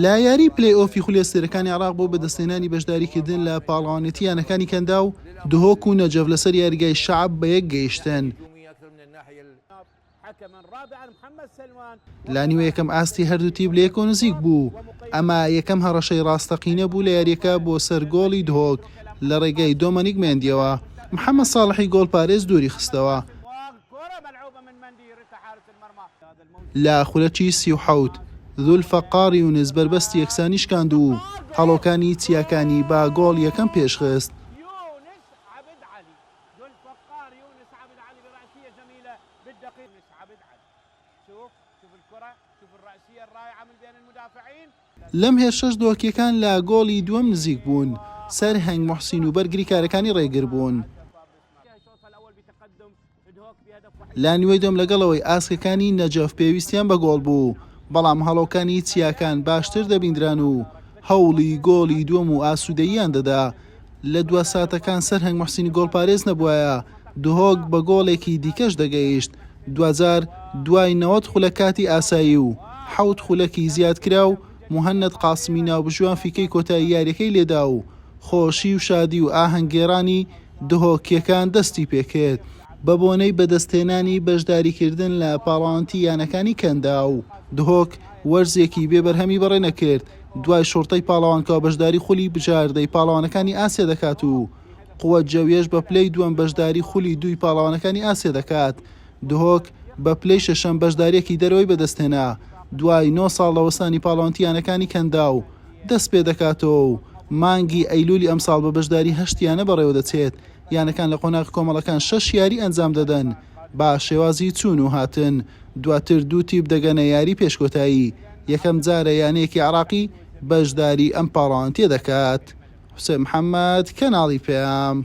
لە یاریی پلەی ئۆفی خولی ئەستێرەکانی عێراق بۆ بەدەستهێنانی بەشداریکردن لە پاڵەوانێتی یانەکانی کەنداو، دهۆک و نەجەف لەسەر یاریگای شەعب بە یەک گەیشتن. لە نیوە یەکەم ئاستی هەردوو تیپ لە یەکەوە نزیک بوو، ئەمە یەکەم هەڕەشەی ڕاستەقینە بوو لە یارییەکە بۆ سەر گۆڵی دهۆک لە ڕێگای دۆمەنیک مێندییەوە، محەمەد ساڵحی گۆڵپارێز دووری خستەوە. لە خولەکی سی و حەوت، زولفەقار یونس بەربەستی یەکسانی شکاند و هەڵۆکانی چیاکانی بە گۆڵ یەکەم پێشخست. لەم هێرشەش دۆکییەکان لە گۆڵی دووەم نزیک بوون، سەرهەنگ موحسین و بەرگریکارەکانی رێگربوون. لە نیوەی دووەم لەگەڵەوەی ئاسکەکانی نەجەف پێویستیان بە گۆڵ بوو، بەڵام هەڵۆکانی چیاکان باشتر دەبیندران و هەوڵی گۆڵی دووەم و ئاسوودەییان دەدا. لە دوا ساتەکان سەرهەنگ موحسین گۆڵپارێز نەبوایە، دهۆک بە گۆڵێکی دیکەش دەگەیشت، دواجار دوای نەوەد خولەک کاتی ئاسایی و حەوت خولەکی زیادکراو، موهەنەد قاسمی ناوبژیوان فیکەی کۆتایی یارییەکەی لێدا و خۆشی و شادی و ئاهەنگگێڕانی دهۆکییەکان دەستی پێکرد بەبۆنەی بەدەستهێنانی بەشداریکردن لە پاڵەوانتی یانەکانی کەنداو. دهۆک وەرزێکی بێ بەرهەمی بەڕێ نەکرد، دوای شوڕتەی پاڵەوانکەوە بەشداری خولی بژاردەی پاڵەوانەکانی ئاسیا دەکات و قوەت جەوییەش بە پلەی دووەم بەشداری خولی دووی پاڵەوانەکانی ئاسیا دەکات دهۆک بە پلەی شەشەم بەشدارییەکی دەرەوەی بەدەستهێنا، دوای نۆ ساڵ لە وەستانی پاڵەوانتی یانەکانی کەنداو دەستپێدەکاتەوە و مانگی ئەیلولی ئەمساڵ بە بەشداری هەشت یانە بەڕێوەدەچێت، یانەکان لە قۆناغە کۆمەڵەکان شەش یاری ئەنجامدەدەن بە شێوازی چوون و هاتن، دواتر دوو تیپ دەگەنە یاری پێش کۆتایی، یەکەم جارە یانەیەکی عێراقی بەشداری ئەم پاڵەوانتیە دەکات. حوسێن محەمەد، کەناڵی پەیام.